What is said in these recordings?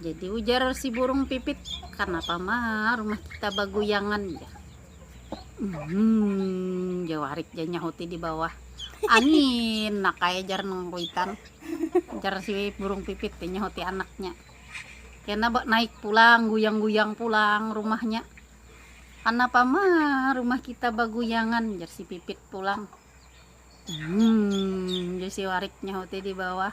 jadi ujar si burung pipit kenapa mah rumah kita baguyangan ya hmm jawarik ya nyahuti di bawah angin nak kaya jar nangkuitan jar si burung pipit ya nyahuti anaknya kena naik pulang guyang-guyang pulang rumahnya kenapa mah rumah kita baguyangan jar si pipit pulang hmm jar si warik nyahuti di bawah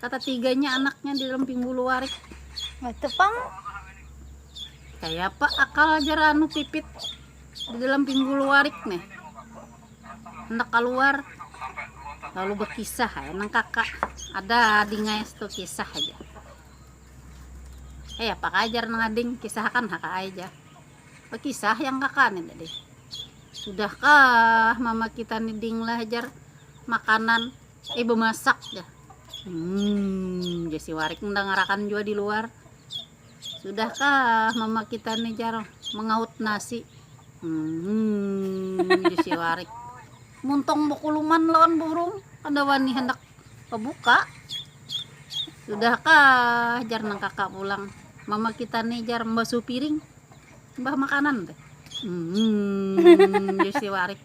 kata tiganya anaknya di dalam pinggul warik itu pang kayak apa akal aja anu pipit di dalam pinggul warik nih hendak keluar lalu berkisah ya nang kakak ada adingnya itu kisah aja eh apa ajar nang ading kisah kan hak aja berkisah yang kakak nih tadi sudahkah mama kita nih ding lah ajar makanan Ibu masak dah. Hmm, jadi warik mendangarakan juga di luar. Sudahkah mama kita nih Jaro mengaut nasi? Hmm, jadi warik. Muntong bukuluman lawan burung, ada wani hendak kebuka. Sudahkah jar nang kakak pulang? Mama kita nih jar membasuh piring. Mbah makanan teh. Hmm, jadi warik.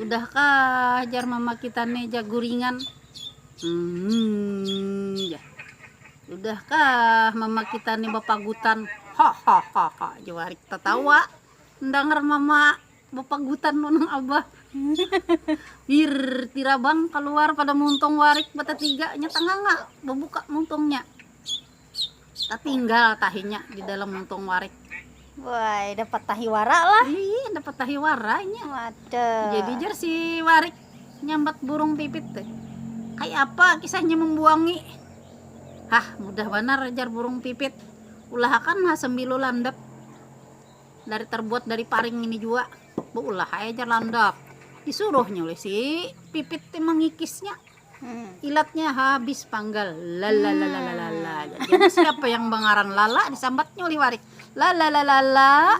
Udah kah jar mama kita ne ja guringan. Hmm, ja. Udah kah mama kita ne bapagutan. Hahaha, jawarik tatawa. Ndangar mama bapagutan nang abah. Wir, tirabang kaluar pada muntung warik batatiga nya tanganga babuka muntungnya. Tatinggal tahinya di dalam muntung warik. Wah, dapat tahi wara lah. Iya, dapat tahi waranya. Waduh. Jadi jer si warik nyambat burung pipit tuh. Kayak apa kisahnya membuangi? Hah, mudah banar ajar burung pipit. Ulahakan lah sembilu landap. Dari terbuat dari paring ini juga. Beulah aja landap. Disuruhnya oleh si pipit mengikisnya. ilatnya habis panggal lalalalalala jadi siapa yang mengaran lala disambatnya oleh warik lalalalalala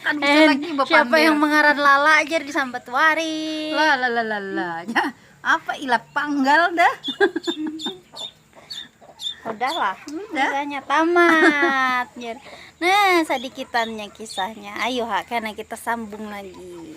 kan bisa eh, lagi bapak siapa yang mengaran lala aja disambat warik lalalalalala ya, apa ilat panggal dah udahlah udah kisahnya tamat nah sedikitannya kisahnya ayo ha karena kita sambung lagi